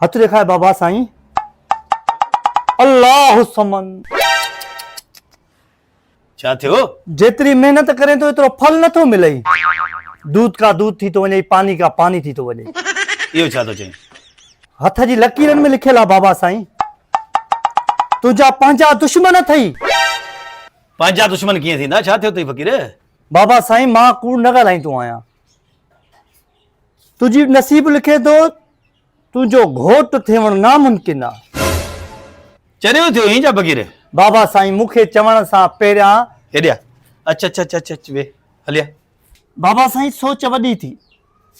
هٿ ڏيکار بابا سائين الله الصمد. ڇا ٿيو؟ جيتري محنت ڪرين ٿو ايترو ڦل نه ٿو ملئي. دود ڪا دود ٿي ٿو وڃي ۽ پاني ڪا پاني ٿي ٿو وڃي. اهو ڇا ٿو چئين؟ هٿ جي لڪيرن ۾ لکيل آهي بابا سائين. تنهنجا پنهنجا دشمن اٿئي. پنهنجا دشمن ڪيئن ٿيندا؟ ڇا ٿيو اٿئي فقير؟ بابا سائين مان ڪوڙ نه ڳالهائيندو آهيان. تنهنجي نصيب لکي ٿو، تنهنجو گهوٽ ٿيوڻ ناممڪن آ. چريو ٿيو هين ڇا فقير؟ بابا سائين مون کي چوڻ سان پهريان. هيڏي آ. اچ اچ اچ اچ اچ ويهه هلي آ. بابا سائين سوچ وڏي ٿي.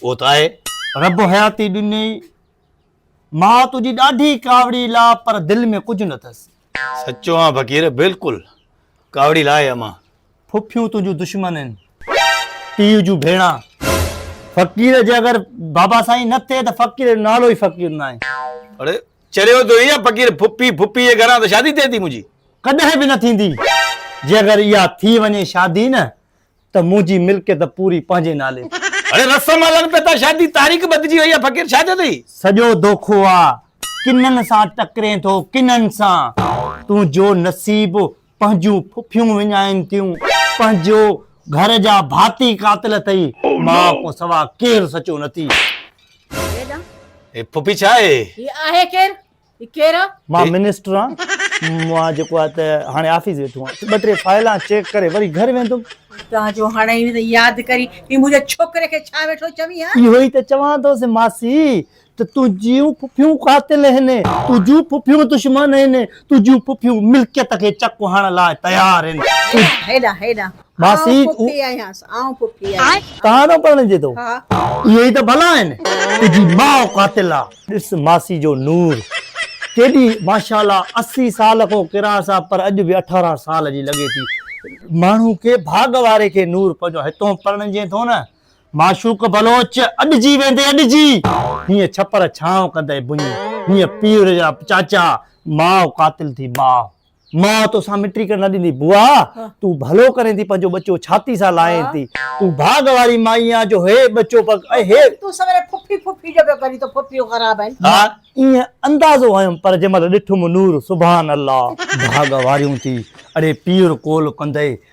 اهو ته آهي. رب حياتي ڏنئي. ماء تنهنجي ڏاڍي ڪاوڙي لا پر دل ۾ ڪجهه نه ٿس. سچو آ فقير بلڪل ڪاوڙي لا آهي امان. ڦڦيون تنهنجون دشمن آهن پيء جون ڀيڻا فقير جي اگر بابا سائين نه ٿئي ته فقير جو نالو ئي فقير نه آهي اڙي چريو ٿيو ايئن فقير ڦڦي ڦوپي جي گهران ته شادي ٿئي ٿي منهنجي ڪڏهن به نه ٿيندي جي اگر اها ٿي وڃي شادي نه ته منهنجي ملڪيت پوري پنهنجي نالي تي اڙي رسم هلن پيا ٿا شادي تاريخ بدجي وئي آهي فقير ڇا ٿيو ٿئي. سڄو دوکو آ ڪنن سان ٽڪرين ٿو ڪنن سان تنهنجو نصيب پنهنجون ڦڦيون وڃائين ٿيون پنهنجو گهر جا ڀاتي قاتل اٿئي مان کان سوا ڪير سچو نه ٿي. هيڏانهن. هي ڦڦي ڇا آهي؟ هي آهي ڪير؟ هي ڪير آ؟ مان منسٽر آن مان جيڪو آ ته هاڻي آفيس ويٺو آن ٻه ٽي فائلان چيڪ ڪري وري گهر ويندم. هتان جو هڻئين ته ياد ڪرين هي منهنجي ڇوڪري کي ڇا ويٺو چوين هان؟ اهو ئي ته چوان ٿوس ماسي ته تنهنجيون ڦڦيون قاتل آهن، تنهنجيون ڦڦيون دشمن آهن، تنهنجيون ڦڦيون ملڪيت کي چڪ هڻڻ لاء تيار آهن. هيڏانهن هيڏانهن ماسي آئون ڦڦي آهيانس، آئون ڦڦي آهيانس. توهان سان پرڻجي ٿو. ها. اهي ئي ته ڀلا آهن. تنهنجي ماء قاتل آ. ڏس ماسي جو نور ڪيڏي ماشاءالله اسي سال کان ڪراس آ پر اڄ به اٺارهن سال جي لڳي ٿي. ماڻهو کي ڀاڳ واري کي نور پنهنجو هتون پرڻجين ٿو نه معشوق بلوچ اڏجي ويندي اڏجي. هيئن ڇپر ڇانو ڪندي ڀڃ. هيئن پير جا چاچا ماء قاتل ٿي ٻاء. ماء توسان مٽي ڪرڻ نه ڏيندي بوا تون ڀلو ڪرين ٿي پنهنجو ٻچو ڇاتي سان لائين ٿي تون ڀاڳ واري مائي آن جو هي ٻچو پڳ ۽ هي. تون سويري ڦڦي ڦڦي جو پيو ڪرين تو ڦڦيون خراب آهن. ها ايئن اندازو هنيم پر جنهن مهل ڏٺم نور سبحان الله. ڀاڳ واريون ٿي اڙي پير ڪول ڪندي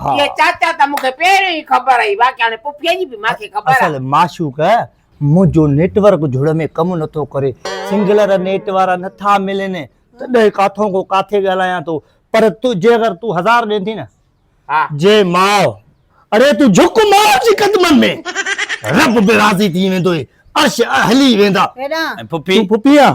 ها. اهي چاچا ته مون کي پهريون ئي خبر هئي، باقي هاڻي پڦيء جي به مان کي خبر آهي. اصل معشوق منهنجو نيٽ ورڪ جھڙ ۾ ڪم نٿو ڪري، سنگلر نيٽ وارا نٿا ملن، تڏهن ڪاٿو کان ڪاٿي ڳالهايان ٿو، پر تون جي اگر تون هزار ڏين ٿي نه، ها. جي ماء، اڙي تون جھڪ ماء جي قدمن ۾، رب به راضي ٿي ويندوئي، عرش هلي ويندا. ڪيڏانهن؟ ۽ پڦي؟ تون پڦي آن،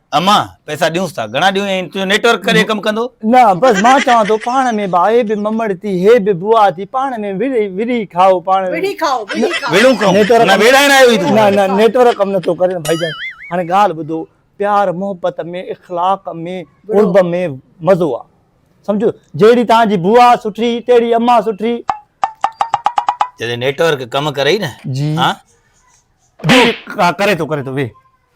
امان پئسا ڏيونس ٿا گهڻا ڏيون ۽ تنهنجو نيٽ ورڪ ڪڏهن ڪم ڪندو. نه بس مان چوان ٿو پاڻ ۾ به آهي به ممڙ ٿي هي به بوا ٿي پاڻ ۾ وڙهي وڙهي کائو پاڻ ۾ وڙهي کائو وڙهي کائو وڙهون ڪم نيٽ ورڪ نه ويڙهائڻ آيو هي تون نه نه نيٽ ورڪ ڪم نه ٿو ڪري نه ڀائيجان هاڻي ڳالهه ٻڌو پيار محبت ۾ اخلاق ۾ قرب ۾ مزو آ سمجهو جهڙي توهان جي بوا سٺي تهڙي امان سٺي جڏهن نيٽ ورڪ ڪم ڪري نه جي ها ڪري ٿو ڪري ٿو ويهه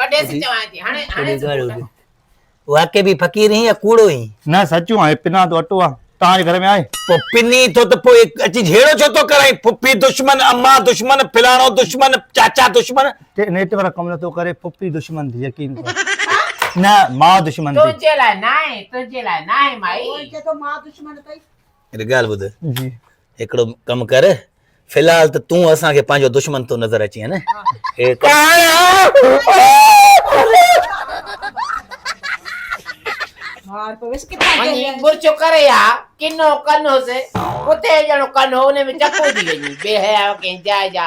ڪڍي سي چوانء ٿي هاڻي هاڻي سي ڪوٽ آهي. واقعي به فقير هين يا ڪوڙو هين؟ نه سچون آهي پنان تو اٽو آ توهان جي گهر ۾ آهي. پو پني ٿو ته پو اچي جهيڙو ڇو ٿو ڪرائين ڦڦي دشمن امان دشمن فلاڻو دشمن چاچا دشمن. تي نيٽ ورڪ ڪم نٿو ڪري ڦڦي دشمن ٿي يقين ڪر ڇا نه مان دشمن ٿي. تنهنجي لاء ناهي تنهنجي لاء ناهي مائي. هو چئي ٿو مان دشمن ٿي. هڪ ڳالهه ٻڌ جي هڪڙو ڪم ڪر في الحال ته تون اسان کي پنهنجو دشمن ٿو نظر اچين نه مرچو ڪري ها ڪنو ڪن هوسي ڪتي جهڙو ڪن هو ان ۾ چڪو ٿي وڃي بي حياء ڪنهن جاء جا